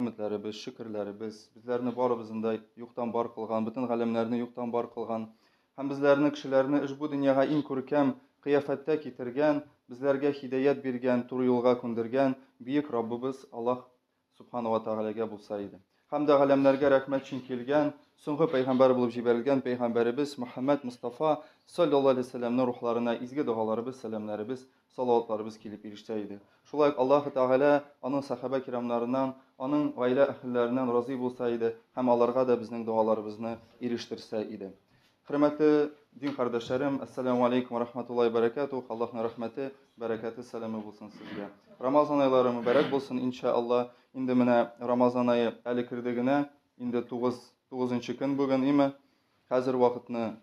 Хәметләребез, шөкерләребез, безләрне барыбызны да юктан бар кылган, бөтен галәмнәрне юктан бар кылган һәм безләрне кешеләрне ошбу дөньяга иң күркәм кыяфәттә китергән, безләргә хидаят биргән, туры юлга күндергән бөек Раббыбыз Аллаһ Субхана ва Тәгаләгә булса иде. Һәм дә галәмнәргә рәхмәт өчен килгән, соңгы пәйгамбәр булып җибәрелгән пәйгамбәребез Мөхәммәд Мустафа саллаллаһу алейһи ва сәлләмнең рухларына изге догаларыбыз, сәламнәребез салаватларыбыз килеп ирешсә иде. Шулай ук Аллаһ Тәгалә аның сәхабә кирамнарыннан, аның гаилә әһелләреннән разый булса иде һәм аларга да безнең догаларыбызны ирештерсә иде. Хөрмәтле дин кардәшләрем, ассаламу алейкум ва рахматуллаһи ва баракатух. Аллаһның рәхмәте, бәрәкәте, сәламе булсын сезгә. Рамазан айлары мөбарәк булсын, иншаалла. Инде менә Рамазан ае әле керде генә, инде 9 9 көн бүген, име? Хәзер вакытны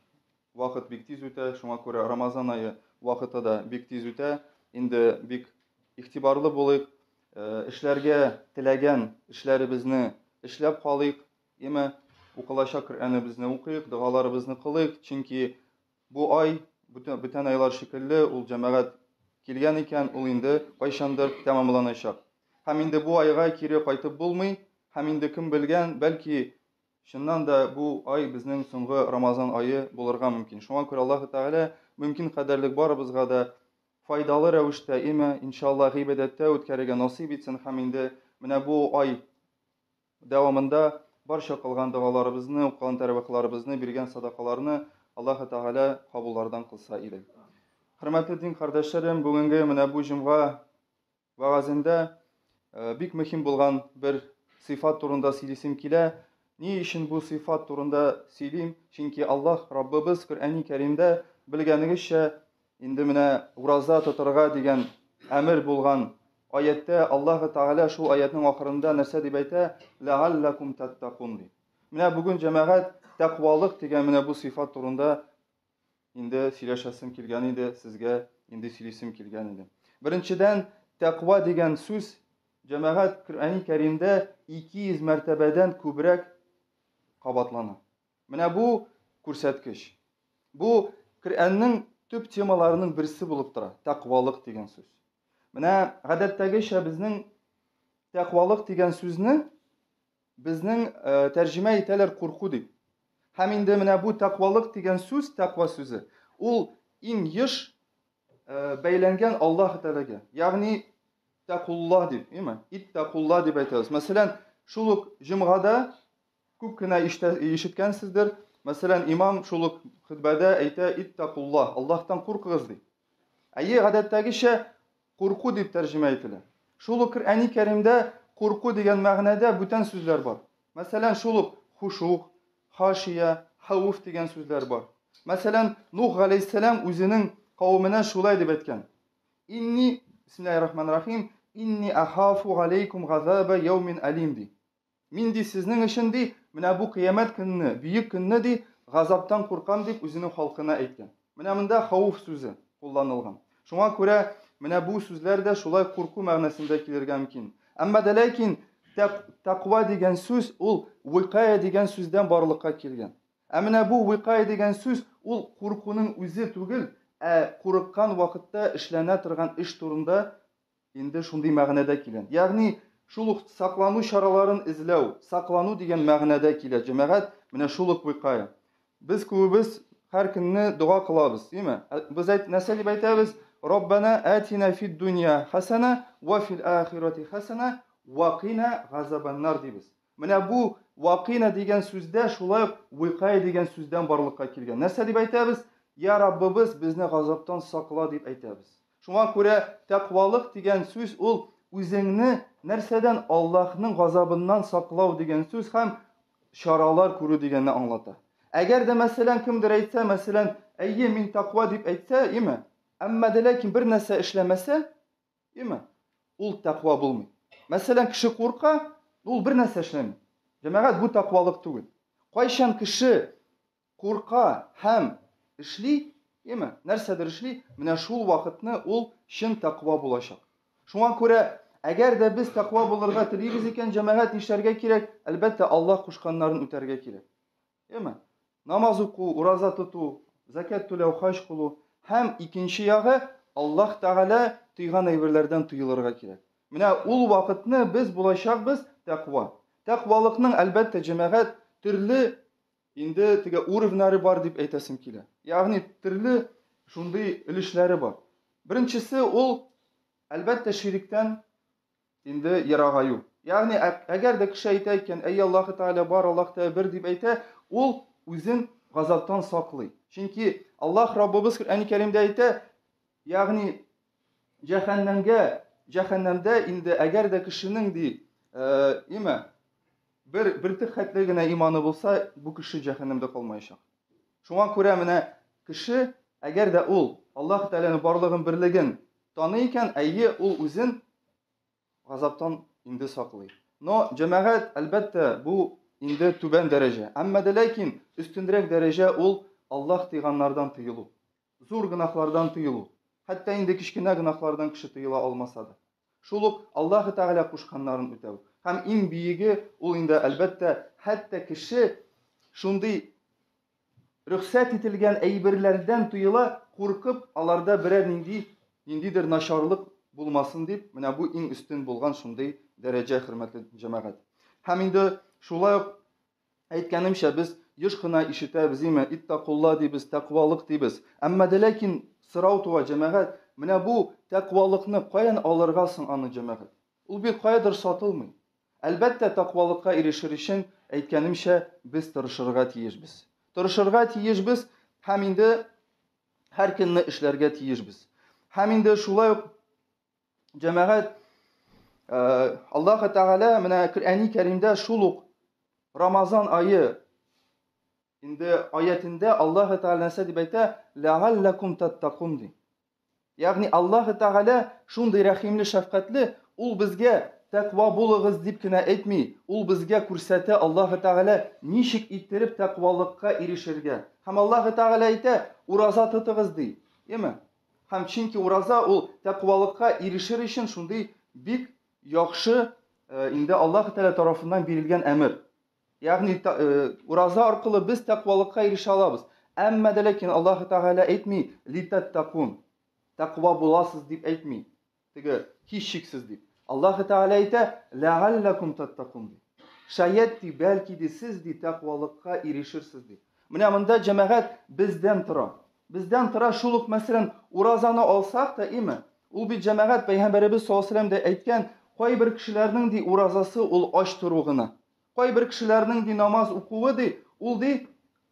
Вакыт бик тиз үтә, шуңа күрә Рамазан ае вакыты да бик тиз үтә. Инде бик игътибарлы булыйк, э, эшләргә теләгән эшләребезне эшләп калыйк, яме укылачак Коръәнебезне укыйк, догаларыбызны кылыйк, чөнки бу ай бүтән, бүтән айлар шикелле ул җәмәгать килгән икән, ул инде кайчандыр тәмамланачак. Һәм инде бу айга кире кайтып булмый, һәм инде кем белгән, бәлки Чыннан да, бу ай безнең соңгы Рамазан ае булырга мөмкин. Шуңа күрә Аллаһы Тәгалә мөмкин кадәрлек барыбызга да файдалы рәвештә, име, иншалла, гыйбадәттә үткәрергә насыйп итсен һәм инде менә бу ай дәвамында барча кылган догаларыбызны, укыган тәрвихларыбызны, биргән садакаларны Аллаһы Тәгалә кабуллардан кылса иде. Хөрмәтле дин кардәшләрем, бүгенге менә бу җомга Вәгазендә бик мөһим булган бер сыйфат турында сөйлисем килә. Ни өчен бу сыйфат турында сөйлим? Чөнки Аллаһ Раббыбыз Коръәни Кәримдә белгәнегезчә, инде менә ураза тотарга дигән әмер булган аяттә Аллаһ Тәгалә шул аятның ахырында нәрсә дип әйтә? Ләаллакум таттакун ди. Менә бүген җәмәгать тәкъвалык дигән менә бу сыйфат турында инде сөйләшәсем килгән иде, сезгә инде сөйлисем килгән иде. Беренчедән, тәкъва дигән сүз җәмәгать Коръәни Кәримдә 200 мәртәбәдән күбрәк кабатлана. Менә бу күрсәткеч. Бу Коръәннең төп темаларының берсе булып тора, тәкъвалык дигән сүз. Менә гадәттәгечә безнең тәкъвалык дигән сүзне Безнең тәрҗемә итәләр курку дип. Һәм инде менә бу тәкъвалык дигән сүз, тәкъва сүзе, ул иң еш бәйләнгән Аллаһ Тәгаләгә. Ягъни тәкулла дип, име? Иттәкулла дип әйтәбез. Мәсәлән, шул ук җомгада күп кенә ишеткәнсездер. Мәсәлән, имам шул ук хөтбәдә әйтә иттәкулла, Аллаһтан куркыгыз ди. Әйе, гадәттәгечә Курку дип тәрҗемә ителә. Шул ук Коръәни Кәримдә курку дигән мәгънәдә бүтән сүзләр бар. Мәсәлән, шул ук хушуг, хашия, хәвеф дигән сүзләр бар. Мәсәлән, Нух галәйһиссәлам үзенең кавеменә шулай дип әйткән, Инни, бисмиллаһир-рахманир-рахим, инни ахафу галәйкүм газаба яумин әлим, ди. Мин, ди, сезнең өчен, ди, менә бу кыямәт көнне, бөек көнне, ди, газаптан куркам, дип үзенең халкына әйткән. Менә монда хауф сүзе кулланылган. Шуңа күрә менә бу сүзләр дә шулай курку мәгънәсендә килергә мөмкин. Әмма дә ләкин тәква дигән сүз ул викая дигән сүздән барлыкка килгән. Ә менә бу викая дигән сүз ул куркуның үзе түгел, ә курыккан вакытта эшләнә торган эш турында Инде шундый мәгънәдә килә. Ягъни, шул ук саклану чараларын эзләү, саклану дигән мәгънәдә килә, җәмәгать, менә шул ук выкая. Без күбебез һәр көнне дога кылабыз, диме? Ә без әйт, нәрсә дип әйтәбез? Раббана әтина фид дунья хәсәнә вә фил ахирати хәсәнә вә кина газабаннар, дибез. Менә бу вакина дигән сүз дә шулай ук уикая дигән сүздән барлыкка килгән. Нәрсә дип әйтәбез? Йә Раббыбыз, безне газаптан сакла, дип әйтәбез. Шуңа күрә тәкъвалык дигән сүз ул үзеңне нәрсәдән Аллаһның газабыннан саклау дигән сүз һәм чаралар күрү дигәнне аңлата. Әгәр дә мәсәлән кемдер әйтсә, мәсәлән, әйе, мин тәкъва дип әйтсә, име? Әмма дә ләкин бер нәрсә эшләмәсә, Değil mi? Ул тәква булмый. Мәсәлән, кеше курка, ул бер нәрсә эшләми. Җәмәгать бу тәквалык түгел. Кайчан кеше курка һәм эшли, яме, нәрсәдер эшли, менә шул вакытны ул чын тәква булачак. Шуңа күрә, әгәр дә без тәква булырга телибез икән, җәмәгать нишләргә кирәк? Әлбәттә, Аллаһ кушканнарын үтәргә кирәк. Яме. Намаз уку, ураза тоту, закят түләү, хаҗ кылу һәм икенче ягы Аллаһ Тәгалә тыйган әйберләрдән тыелырга кирәк. Менә ул вакытны без булачакбыз тәкъва. Тәкъвалыкның әлбәттә җәмәгать төрле инде теге уровнары бар дип әйтәсем килә. Ягъни төрле шундый өлешләре бар. Беренчесе ул әлбәттә ширектән инде ерагаю. Ягъни, әгәр дә кеше әйтә икән, әй Аллаһы Тәгалә бар, Аллаһ Тәгалә бер дип әйтә, ул үзен газаптан саклый. Чөнки Аллаһ Раббыбыз Коръәни Кәримдә әйтә, ягъни җәһәннәмгә, җәһәннәмдә инде әгәр дә кешенең ди, имә бер бертик хәтле генә иманы булса, бу кеше җәһәннәмдә калмаячак. Шуңа күрә менә кеше, әгәр дә ул Аллаһ Тәгаләнең барлыгын, берлеген таный икән, әйе, ул үзен газаптан инде саклый. Но җәмәгать, әлбәттә, бу инде түбән дәрәҗә. Әмма дә ләкин өстенрәк дәрәҗә ул Аллаһ тыйганнардан тыелу. Зур гөнаһлардан тыелу. Хәтта инде кечкенә гөнаһлардан кеше тыела алмаса да. Шул ук Аллаһы Тәгалә кушканнарын үтәү. Һәм иң биеге, ул инде, әлбәттә, хәтта кеше шундый рөхсәт ителгән әйберләрдән тыела, куркып, аларда берәр нинди, ниндидер начарлык булмасын дип, менә бу иң өстен булган шундый дәрәҗә, хөрмәтле җәмәгать. Һәм инде шулай ук Әйткәнемчә, без еш кына ишетәбез, име, иттәкулла дибез, тәкъвалык дибез. Әмма дә ләкин сорау туа, җәмәгать, менә бу тәкъвалыкны каян алырга соң аны, җәмәгать? Ул бит каядыр сатылмый. Әлбәттә, тәкъвалыкка ирешер өчен, әйткәнемчә, без тырышырга тиешбез. Тырышырга тиешбез һәм инде һәр көнне эшләргә тиешбез. Һәм инде шулай ук Җәмәгать э, Аллаһ Тәгалә менә Коръәни Кәримдә шул ук Рамазан айы инде аятендә Аллаһ Тәгалә нәрсә дип әйтә? Ләгаллакум таттакун ди. Ягъни Аллаһ Тәгалә шундый рәхимле, шәфкатьле, ул безгә тәква булыгыз дип кенә әйтми, ул безгә күрсәтә Аллаһы Тәгалә ничек иттереп тәквалыкка ирешергә. Һәм Аллаһы Тәгалә әйтә, ураза тотыгыз ди. Яме? Һәм чөнки ураза ул тәкъвалыкка ирешер өчен шундый бик яхшы инде Аллаһ Тәгалә тарафыннан бирелгән әмер. Ягъни ураза аркылы без тәкъвалыкка ирешә алабыз. Әмма дә ләкин Аллаһ Тәгалә әйтми, литәттәкун, тәкъва буласыз дип әйтми. Теге һичшиксез дип. Аллаһы Тәгалә әйтә, Ләгалләкум таттакун ди. Шәят ди, бәлки ди, сез ди, тәкъвалыкка ирешерсез ди. Менә монда җәмәгать бездән тора. Бездән тора шул ук мәсәлән, уразаны алсак та, име? Ул бит җәмәгать пәйгамбәребез саллаллаһу алейһи ва сәлләм дә әйткән, кайбер кешеләрнең ди уразасы ул ач тору гына. Кайбер кешеләрнең ди намаз укуы ди, ул ди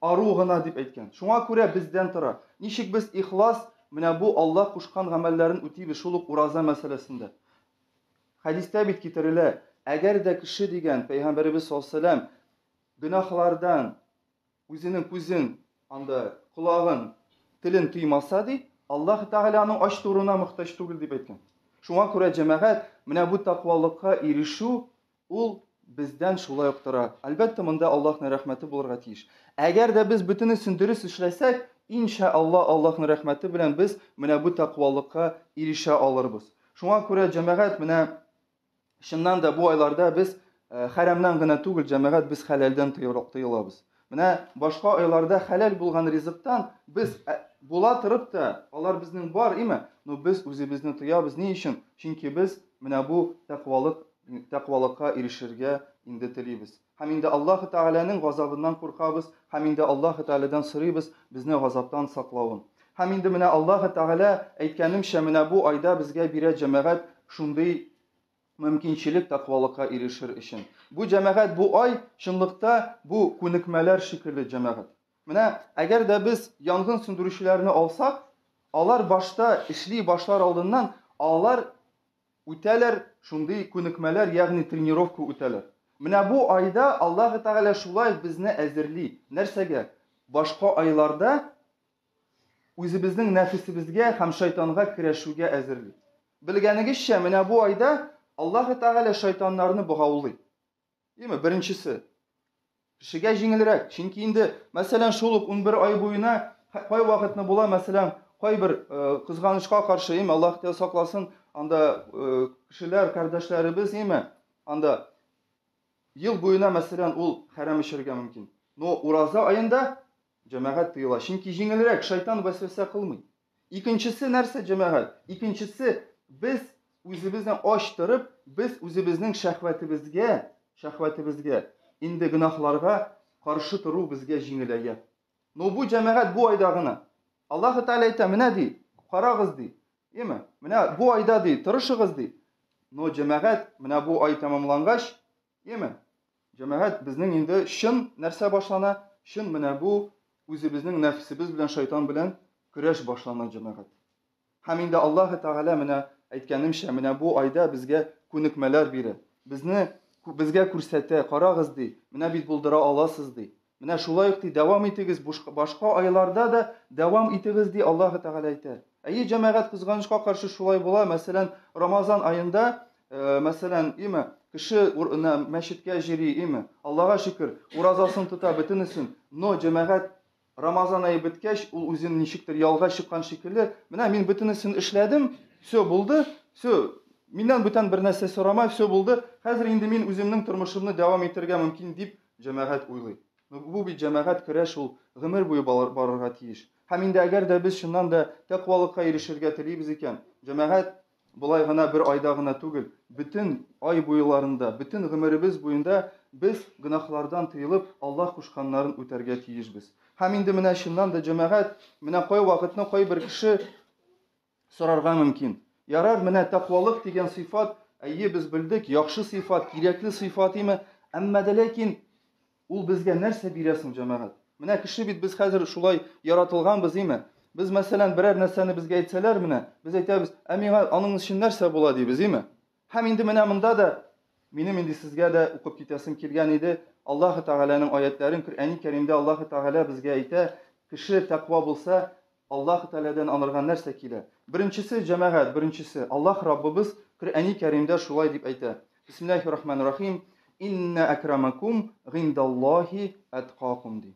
ару гына дип әйткән. Шуңа күрә бездән тора, ничек без ихлас менә бу Алла кушкан гамәлләрен үтибез, шул ук ураза мәсьәләсендә. Хәдистә бит китерелә, әгәр дә кеше дигән, Пәйгамбәребез саллаллаһу галәйһи ва сәлләм, гөнаһлардан, Үзенең күзен, анда колагын, телен тыймаса, ди, Аллаһ Тәгалә аның ач торуына мохтаҗ түгел, дип әйткән. Шуңа күрә, җәмәгать, менә бу тәкъвалыкка ирешү, ул бездән шулай ук тора. Әлбәттә, монда Аллаһның рәхмәте булырга тиеш. Әгәр дә без бөтенесен дөрес эшләсәк, ин шә Аллаһ, Аллаһның рәхмәте белән без менә бу тәкъвалыкка ирешә алырбыз. Шуңа күрә, җәмәгать, менә Чыннан да бу айларда без э, хәрәмнән генә түгел, җәмәгать, без хәләлдән тыелабыз. Менә башка айларда хәләл булган ризыктан без э, була торып та, алар безнең бар, име? Но без үзебезне тыябыз. Ни өчен? Чөнки без менә бу тәкъвалык, тәкъвалыкка ирешергә инде телибез. Һәм инде Аллаһы Тәгаләнең газабыннан куркабыз, һәм инде Аллаһы Тәгаләдән сорыйбыз безне газаптан саклавын. Һәм инде менә Аллаһы Тәгалә, әйткәнемчә, менә бу айда безгә бирә җәмәгать шундый мөмкинчелек тәкъвалыкка ирешер өчен. Бу җәмәгать, бу ай, чынлыкта, бу күнекмәләр шикелле җәмәгать. Менә әгәр дә без янгын сүндерүчеләрне алсак, алар башта эшли башлар алдыннан, алар Үтәләр, шундый күнекмәләр, ягъни тренировка үтәләр. Менә бу айда Аллаһы Тәгалә шулай ук безне әзерли. Нәрсәгә? Башка айларда үзебезнең нәфесебезгә һәм шайтанга көрәшүгә әзерли. Белгәнегезчә, менә бу айда Аллаһы Тәгалә шайтаннарны богаулый. Димә, беренчесе. Кешегә җиңелрәк, чөнки инде, мәсәлән, шул ук 11 ай буена кай вакытны була, мәсәлән, кайбер кызганычка каршы, име, Аллаһ тә сакласын, анда кешеләр, кардәшләребез, име, анда ел буена, мәсәлән, ул хәрәм эчәргә мөмкин. Но ураза аенда Җәмәгать тыела, чөнки җиңелрәк, шайтан вәсвәсә кылмый. Икенчесе нәрсә, җәмәгать? Икенчесе, без үзебезне ач торып, без үзебезнең шәһвәтебезгә, шәһвәтебезгә, инде гөнаһларга каршы тору безгә җиңеләя. Ну, бу җәмәгать бу айда гына. Аллаһы Тәгалә әйтә, менә ди, карагыз ди. Яме, менә бу айда ди, тырышыгыз ди. Но җәмәгать, менә бу ай тәмамлангач, Яме. Җәмәгать, безнең инде чын нәрсә башлана? Чын менә бу үзебезнең нәфсебез белән шайтан белән көрәш башлана, җәмәгать. Һәм инде Аллаһы Тәгалә менә әйткәнемчә, менә бу айда безгә күнекмәләр бирә. Безне безгә күрсәтә, карагыз ди, менә бит булдыра аласыз ди. Менә шулай ук, ди, дәвам итегез, башка айларда да дәвам итегез, ди, Аллаһы Тәгалә әйтә. Әйе, җәмәгать, кызганычка каршы шулай була, мәсәлән, Рамазан аенда, мәсәлән, име, кеше мәчеткә җыри, име, Аллага шөкер, уразасын тота, бөтенесен, но, җәмәгать, Рамазан ае беткәч, ул үзен ничектер ялга чыккан шикелле, менә мин бөтенесен эшләдем, все булды, все, миннән бүтән бер нәрсә сорамай, все булды, хәзер инде мин үземнең тормышымны дәвам итәргә мөмкин, дип Җәмәгать уйлый. Бу бит җәмәгать көрәш ул, гомер буе барырга тиеш. Һәм инде әгәр дә без чыннан да тәкъвалыкка ирешергә телибез икән, җәмәгать болай гына бер айда гына түгел, бөтен ай буеларында, бөтен гомеребез буенда без гөнаһлардан тыелып, Аллаһ кушканнарын үтәргә тиешбез. Һәм инде менә чыннан да җәмәгать, менә кайвакытны кайбер кеше Сорарга мөмкин. Ярар, менә тәкъвалык дигән сыйфат, әйе, без белдек, яхшы сыйфат, кирәкле сыйфат име? Әмма дә ләкин ул безгә нәрсә бирә соң, җәмәгать? Менә кеше бит без хәзер шулай яратылганбыз, име? Без, мәсәлән, берәр нәрсәне безгә әйтсәләр, менә, без әйтәбез, ә миңа аның өчен нәрсә була дибез, име? Һәм инде менә монда да минем инде сезгә дә укып китәсем килгән иде. Аллаһы Тәгаләнең аятләрен Коръәни Кәримдә Аллаһы Тәгалә безгә әйтә, кеше тәкъва булса, Аллаһ Тәгаләдән аңарга нәрсә килә? Беренчесе, җәмәгать, беренчесе. Аллаһ Раббыбыз Коръәни Кәримдә шулай дип әйтә, Бисмиллаһи рахмани рахим, Иннә әкрамәкум гыйндәллаһи әткакум, ди.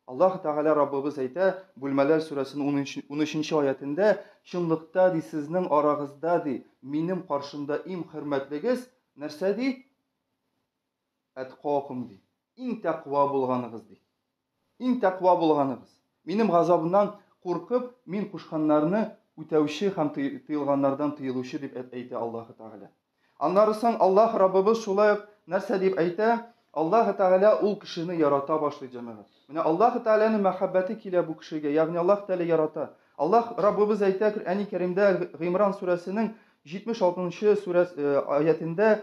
Аллаһ Тәгалә Раббыбыз әйтә, Бүлмәләр сүрәсенең унөченче аятендә, Чынлыкта, ди, сезнең арагызда, ди, минем каршымда иң хөрмәтлегез, нәрсә, ди? Әткакум, ди. Иң тәкъва булганыгыз, ди. Иң тәкъва булганыгыз. Минем газабымнан куркып, мин кушканнарны үтәүче һәм тыелганнардан тыелучы дип әйтә Аллаһы Тәгалә. Аннары соң Аллаһ Раббыбыз шулай ук нәрсә дип әйтә? Аллаһы Тәгалә ул кешене ярата башлый, җәмәгать. Менә Аллаһы Тәгаләнең мәхәббәте килә бу кешегә, ягъни Аллаһ Тәгалә ярата. Аллаһ Раббыбыз әйтә Коръәни Кәримдә Гыймран сүрәсенең 76 нчы сүрәс, аятендә,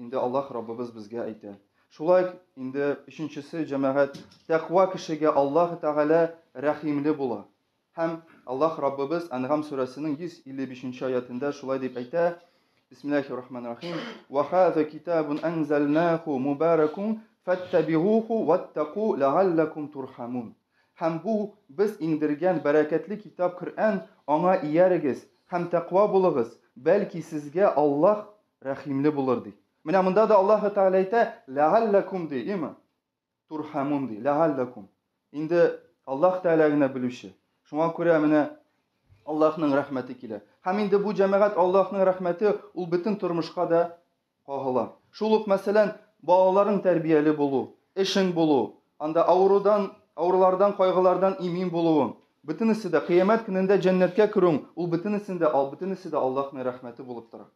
Инде Аллаһ Раббыбыз безгә әйтә. Шулай инде өченчесе җәмәгать тәкъва кешегә Аллаһ Тәгалә рәхимле була. Һәм Аллаһ Раббыбыз Әнгам сүрәсенең 155 нче аятендә шулай дип әйтә, Бисмиллахир рахманир рахим. Ва хаза китабун анзалнаху мубаракун фаттабигуху ваттаку ләгаллакум турхамун. Һәм бу без иңдергән бәрәкәтле китап Коръән, аңа иярегез һәм тәкъва булыгыз, бәлки сезгә Аллаһ Рәхимле булыр, ди. Менә монда да Аллаһы Тәгалә әйтә, Ләгалләкум, ди, име? Турхәмун, ди, ләгалләкум. Инде Аллаһ Тәгалә генә белүче. Шуңа күрә менә Аллаһның рәхмәте килә. Һәм инде бу җәмәгать Аллаһның рәхмәте ул бөтен тормышка да кагыла. Шул ук, мәсәлән, балаларың тәрбияле булу, эшең булу, анда авырудан, авырулардан, кайгылардан имин булуың, бөтенесе дә, кыямәт көнендә җәннәткә керүең, ул бөтенесен дә, бөтенесе дә Аллаһның рәхмәте булып тора.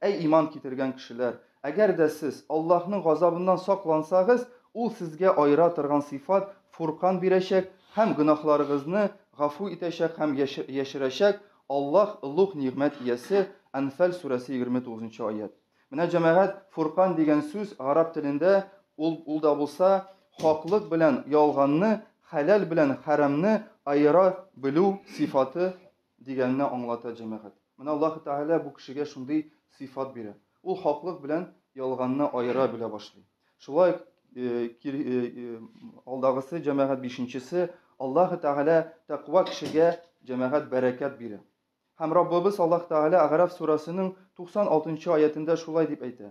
Әй иман китергән кешеләр! Әгәр дә сез Аллаһның газабыннан саклансагыз, Ул сезгә аера торган сыйфат, Фуркан бирәчәк һәм гөнаһларыгызны гафу итәчәк һәм яшерәчәк, Аллаһ, олуг нигъмәт иясе, Әнфәл сүрәсе 29 нчы аять. Менә, җәмәгать, Фуркан дигән сүз гарәп телендә, ул, ул да булса, хаклык белән ялганны, хәләл белән хәрамны аера белү сыйфаты Дигәнне аңлата, җәмәгать. Менә Аллаһы Тәгалә бу кешегә шундый сыйфат бирә. Ул хаклык белән ялганны аера белә башлый. Шулай ук алдагысы җәмәгать бишенчесе Аллаһы Тәгалә тәкъва кешегә җәмәгать бәрәкәт бирә. Һәм Раббыбыз Аллаһ Тәгалә Агараф сурәсенең 96 нчы аятендә шулай дип әйтә.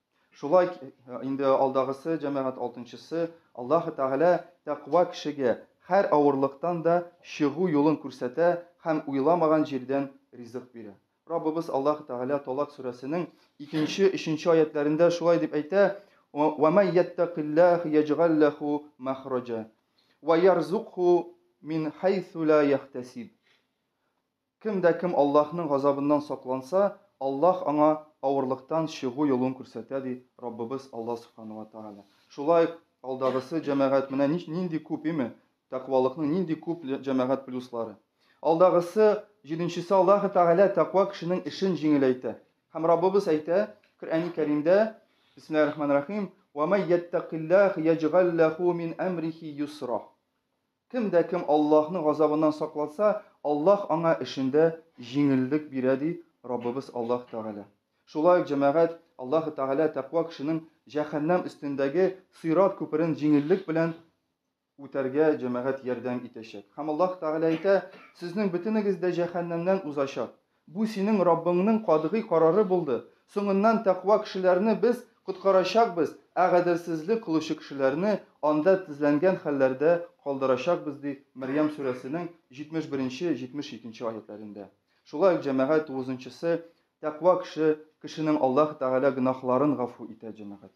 Шулай инде алдагысы җәмәгать алтынчысы, Аллаһы Тәгалә тәкъва кешегә һәр авырлыктан да чыгу юлын күрсәтә һәм уйламаган җирдән ризык бирә. Раббыбыз Аллаһы Тәгалә Талак сүрәсенең икенче, өченче аятьләрендә шулай дип әйтә, Ва май яттәкилләһ яҗгал ләһу мәхраҗа, ва ярзукһу мин һәйсу лә яхтәсиб. Кем дә кем Аллаһның газабыннан сакланса, Аллаһ аңа авырлыктан чыгу юлын күрсәтә, ди Раббыбыз Аллаһ Сүбхәнәһү вә Тәгалә. Шулай ук алдагысы җәмәгать менә нич нинди күп, име, тәкъвалыкның нинди күп җәмәгать плюслары. Алдагысы, җиденчесе Аллаһы Тәгалә тәкъва кешенең эшен җиңеләйтә. Һәм Раббыбыз әйтә Коръәни Кәримдә, Бисмиллаһи рахмани рахим, Вә май йәттәкилләһ яҗгәл ләһу мин әмрихи йосра. Кем дә кем Аллаһның газабыннан сакланса, Аллаһ аңа эшендә җиңеллек бирә, ди Раббыбыз Аллаһ Тәгалә. Шулай ук, җәмәгать, Аллаһ Тәгалә тәкъва кешенең җәһәннәм өстендәге сыйрат күперен җиңеллек белән үтәргә, җәмәгать, ярдәм итәчәк. Һәм Аллаһ Тәгалә әйтә, Сезнең бөтенегез дә җәһәннәмнән узачак. Бу синең Раббыңның катгый карары булды. Соңыннан тәкъва кешеләрне Без коткарачакбыз, ә гаделсезлек кылучы кешеләрне анда тезләнгән хәлләрдә калдырачакбыз, ди Мәрьям сүрәсенең 71 72 аятьләрендә. Шулай ук җәмәгать тугызынчысы, Тәкъва кеше, кешенең Аллаһы Тәгалә гөнаһларын гафу итә, җәмәгать.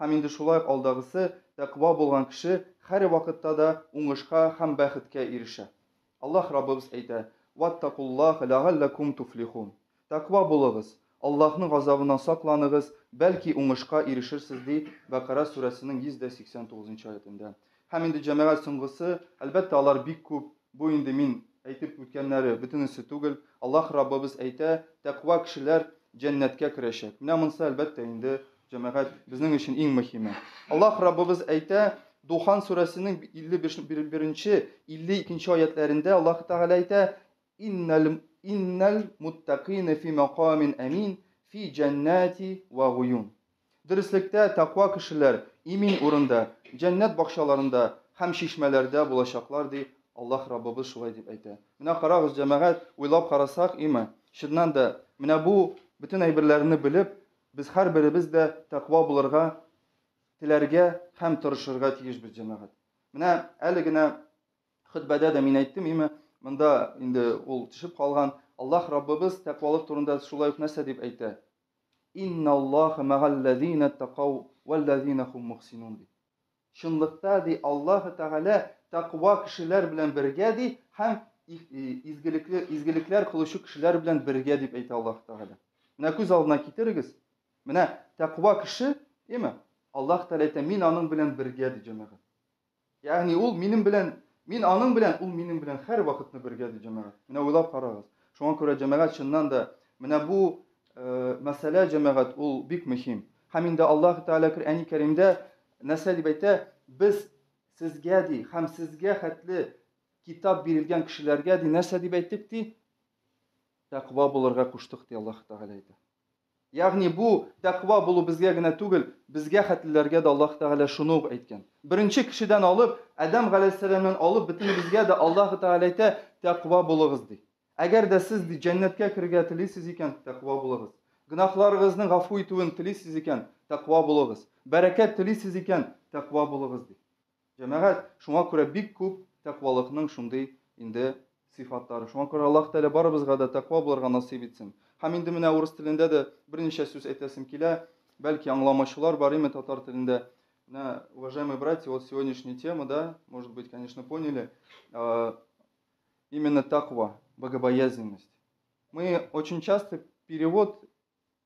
Һәм инде шулай ук алдагысы, тәкъва булган кеше һәр вакытта да уңышка һәм бәхеткә ирешә. Аллаһ Раббыбыз әйтә, Ваттакуллаһ ләгалләкум туфлихун. Тәкъва булыгыз, Аллаһның газабыннан сакланыгыз, бәлки уңышка ирешерсез, ди Бәкара сүрәсенең 189 нчы аятендә. Һәм инде җәмәгать соңгысы, әлбәттә, алар бик күп, бу инде мин әйтеп үткәннәре бөтенесе түгел, Аллаһ Раббыбыз әйтә, тәкъва кешеләр җәннәткә керәчәк. Менә монысы, әлбәттә, инде җәмәгать безнең өчен иң мөһиме. Аллаһ Раббыбыз әйтә, Духан сүрәсенең 51-нче, 52-нче аятләрендә Аллаһ Тәгалә әйтә, Иннәл иннәл муттәкыйнә фи мәкамин әмин фи җәннәти вә гуюн. Дөреслектә, тәкъва кешеләр имин урында, җәннәт бакчаларында һәм чишмәләрдә булачаклар, ди Аллаһ Раббыбыз шулай дип әйтә. Менә карагыз, җәмәгать, уйлап карасак, име, чыннан да, менә бу бөтен әйберләрне белеп, без һәрберебез дә тәкъва булырга теләргә һәм тырышырга тиешбез, җәмәгать. Менә әле генә Хөтбәдә дә мин әйттем, име, монда инде ул төшеп калган. Аллаһ Раббыбыз тәкъвалык турында шулай ук нәрсә дип әйтә? Инналлаха мәгалләзина тәкау вәлләзина хум мухсинун ди. Чынлыкта ди Аллаһ Тәгалә тәкъва кешеләр белән бергә ди һәм изгелекле изгелекләр кылучы кешеләр белән бергә дип әйтә Аллаһ Тәгалә. Менә күз алдына китерегез. Менә тәкъва кеше, име? Аллаһ Тәгалә әйтә, мин аның белән бергә ди җәмәгать. Ягъни ул минем белән, мин аның белән, ул минем белән һәрвакытны бергә, ди җәмәгать. Менә уйлап карагыз. Шуңа күрә җәмәгать чыннан да, менә бу мәсьәлә, җәмәгать, ул бик мөһим. Һәм инде Аллаһ Тәгалә Коръәни Кәримдә нәрсә дип әйтә? Без сезгә, ди, һәм сезгә хәтле китап бирелгән кешеләргә, ди, нәрсә дип әйттек, ди? Тәкъва булырга куштык, ди Аллаһ Тәгалә әйтә. Ягъни бу тәкъва булу безгә генә түгел, безгә хәтлеләргә дә Аллаһ Тәгалә шуны ук әйткән. Беренче кешедән алып, Адәм галәйһиссәламнән алып бөтенебезгә дә Аллаһ Тәгалә әйтә, Тәкъва булыгыз, ди. Әгәр дә сез, ди, җәннәткә керергә телисез икән, тәкъва булыгыз. Гөнаһларыгызның гафу итүен телисез икән, тәкъва булыгыз. Бәрәкәт телисез икән, тәкъва булыгыз, ди. Җәмәгать, шуңа күрә бик күп тәкъвалыкның шундый инде сыйфатлары. Шуңа күрә Аллаһ Тәгалә барыбызга да тәкъва булырга насыйп итсен. Һәм инде менә урыс телендә дә берничә сүз әйтәсем килә. Бәлки аңламаучылар бар име татар телендә. Менә, уважаемые братья, вот сегодняшняя тема, да, может быть, конечно, поняли, именно таква, богобоязненность. Мы очень часто перевод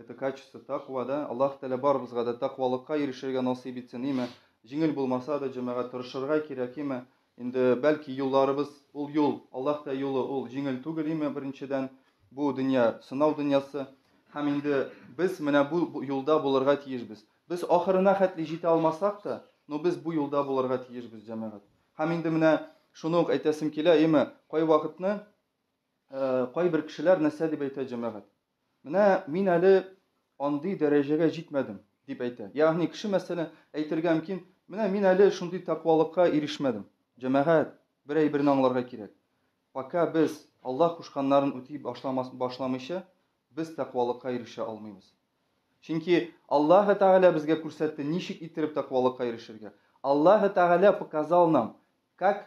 Это качество таква, да? Аллаһ Тәгалә барыбызга да таквалыкка ирешергә насыйп итсен, име? Җиңел булмаса да, җәмәгать тырышырга кирәк, име? Инде бәлки юлларыбыз, ул юл, Аллаһ Тәгалә юлы, ул җиңел түгел, име? Беренчедән, бу дөнья сынау дөньясы. Һәм инде без менә бу юлда булырга тиешбез. Без ахырына хәтле җитә алмасак та, но без бу юлда булырга тиешбез, җәмәгать. Һәм инде менә шуны ук әйтәсем килә, име? Кай вакытны, э, кайбер кешеләр нәрсә дип әйтә, җәмәгать? Менә мин әле андый дәрәҗәгә җитмәдем, дип әйтә. Ягъни кеше, мәсәлән, әйтергә мөмкин, Менә мин әле шундый тәкъвалыкка ирешмәдем. Җәмәгать, бер әйберне аңларга кирәк. Пока без Аллаһ кушканнарын үти башламас, башламыйча, без тәкъвалыкка ирешә алмыйбыз. Чөнки Аллаһы Тәгалә безгә күрсәтте, ничек иттереп тәкъвалыкка ирешергә. Аллаһы Тәгалә показал нам, как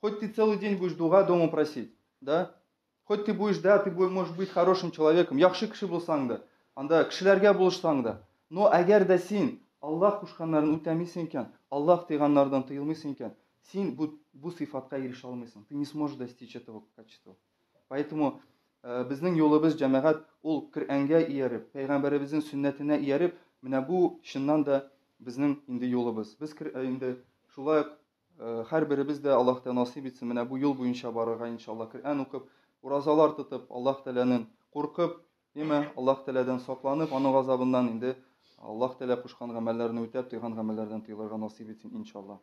Хоть ты целый день будешь дуга дома просить, да? Хоть ты будешь, да, ты будешь, можешь быть хорошим человеком, яхшы кеше булсаң да, анда кешеләргә булышсаң да. Но әгәр дә син Аллах кушканнарын үтәмисең икән, Аллах тыйганнардан тыелмыйсың икән, син бу, бу сыйфатка ирешә алмыйсың. Ты не сможешь достичь этого качества. Поэтому э, безнең юлыбыз җәмәгать ул Коръәнгә ияреп, пәйгамбәребезнең сөннәтенә ияреп, менә бу чыннан да безнең инде юлыбыз. Без э, инде шулай Һәрберебез дә Аллаһ Тәгалә насыйп итсен, менә бу юл буенча барырга, иншаллаһ, Коръән укып, уразалар тотып, Аллаһ Тәгаләнен куркып, яме, Аллаһ Тәгаләдән сакланып, аның газабыннан инде Аллаһ Тәгалә кушкан гамәлләрне үтәп, тыйган гамәлләрдән тыелырга насыйп итсен, иншаллаһ.